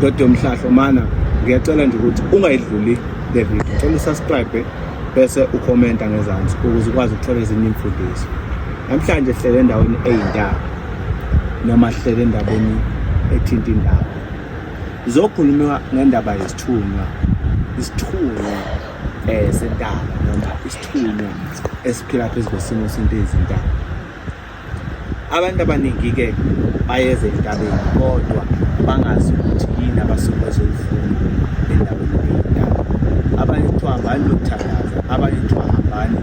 Dodi yomhlahlo mana ngiyacela nje ukuthi ungayidluli le video. Cela usubscribe bese ukhomenta ngezansi ukuze ukwazi ukuthola ezinye imfundiso. Namhlanje sihlele endaweni eyindaba noma sihlele endaweni ethinta indaba. Zokhuluma ngendaba yesithunywa. Isithunywa eh sentaba noma isithunywa esiphila phezu kwesimo sento ezintaba. abantu abaningi-ke bayeza entabeni kodwa bangazi ukuthi yini abasuke bazoyifuna endaweni eyintaba abanye kuthiwa hambani lokuthandaza abanye kuthiwa hambani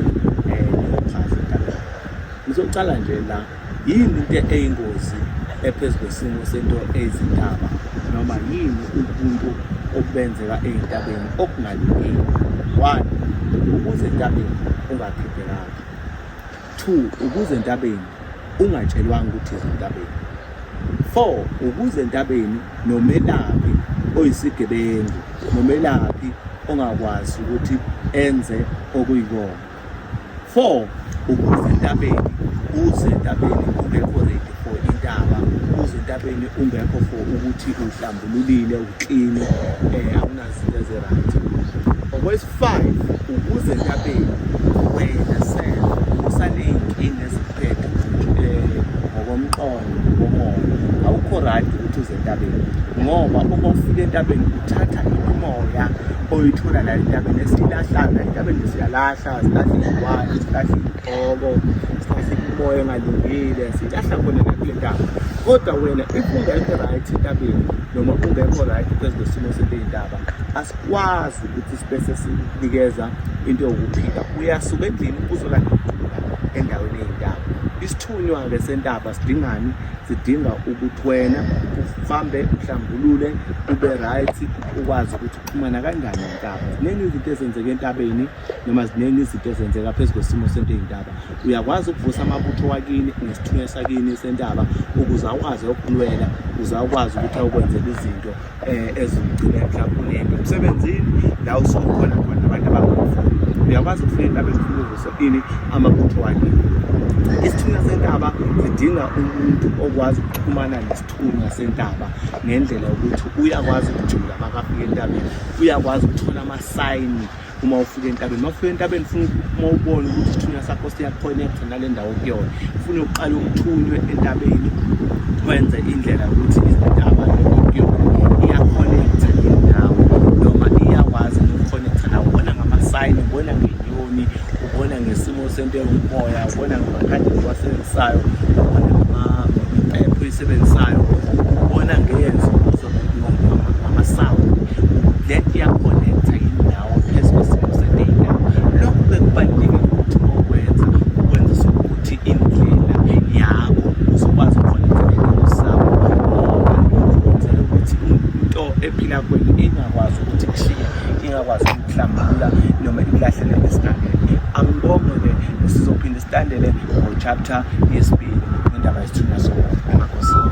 niyophaza eh, entabeni ngizocala nje la yini into eyingozi ephezu kwesimo sento ezintaba noma yini ubuntu obenzeka ey'ntabeni okungalungile one ukuze entabeni ungaphiphekanga Two, ukuze entabeni ungatshelwanga ukuthi izintabeni. Four, ukuze entabeni nomelaphi oyisigebengu nomelaphi ongakwazi ukuthi enze okuyikona. Four, ukuze entabeni uze entabeni ungekho ready for intaba uze entabeni ungekho for ukuthi uhlambululile ukline um eh, Voice 5 ukuze entabeni wena self usaney'nkinga ezikuphethe eh, ngokomqondo ngokomoya awukho right ukuthi uze entabeni ngoba uma ufika entabeni uthatha imimoya oyithola la entabeni esiyilahlana entabeni siyalahla silahla izilwane silahla iy'gqoko silahla imimoya engalungile siyilahla khona nakule ntaba kodwa wena if ungekho right entabeni noma ungekho right phezu kwesimo sento ey'ndaba asikwazi ukuthi sibe sesinikeza into yokuphila uyasuka endlini uzolakuphila endaweni ey'ndaba isithunywa-ke sentaba sidingani sidinga ukuthi wena uhambe uhlambulule ube right ukwazi ukuthi uxhumana kanjani entaba ziningi izinto ezenzeka entabeni noma ziningi izinto ezenzeka phezu kwesimo sento ey'ntaba uyakwazi ukuvusa amabutho wakini nesithunywa sakini sentaba ukuze akwazi ukulwela ukuze akwazi ukuthi akwenzele izinto um ezimgcine mhlawumbe unento emsebenzini la usukhona khona abantu abangafuni uyakwazi ukufuna intaba ezifuna uvuso ini amabutho wakini isithunywa sentaba sidinga umuntu okwazi ukuxhumana nesithunywa sentaba ngendlela yokuthi uyakwazi ukujula makafika entabeni uyakwazi ukuthola amasayini uma ufika entabeni uma ufika entabeni funa uma ubone ukuthi isithunywa sakho siyakhonekhtha nale ndawo kuyona funa uqale uthunywe entabeni wenze indlela yokuthi izintaba kuyona iyakhonekhtha indawo noma iyakwazi ukukhonektha nawo ubona ngamasayini ubona ngenyoni ubona ngesimo Usento ewumoya ubona ngamakhadi ewasebenzisayo amaphepho eyisebenzisayo ubona ngeyenzo ngamasawu le iyakhonekta indawo phezu kwesimo sedata lokhu bekubalulekile ukuthi okwenza ukwenzisa ukuthi indlela yakho uzokwazi ukukhonekta usawu ngoba ukwenzela ukuthi into ephila kweni ingakwazi ukuthi kushiye ingakwazi ukuhlambulula noma ikulahlele esigangeni angibonge-ke sizophinde silandele ngochapter yesibili ngendaba yesithunywa sokumakosini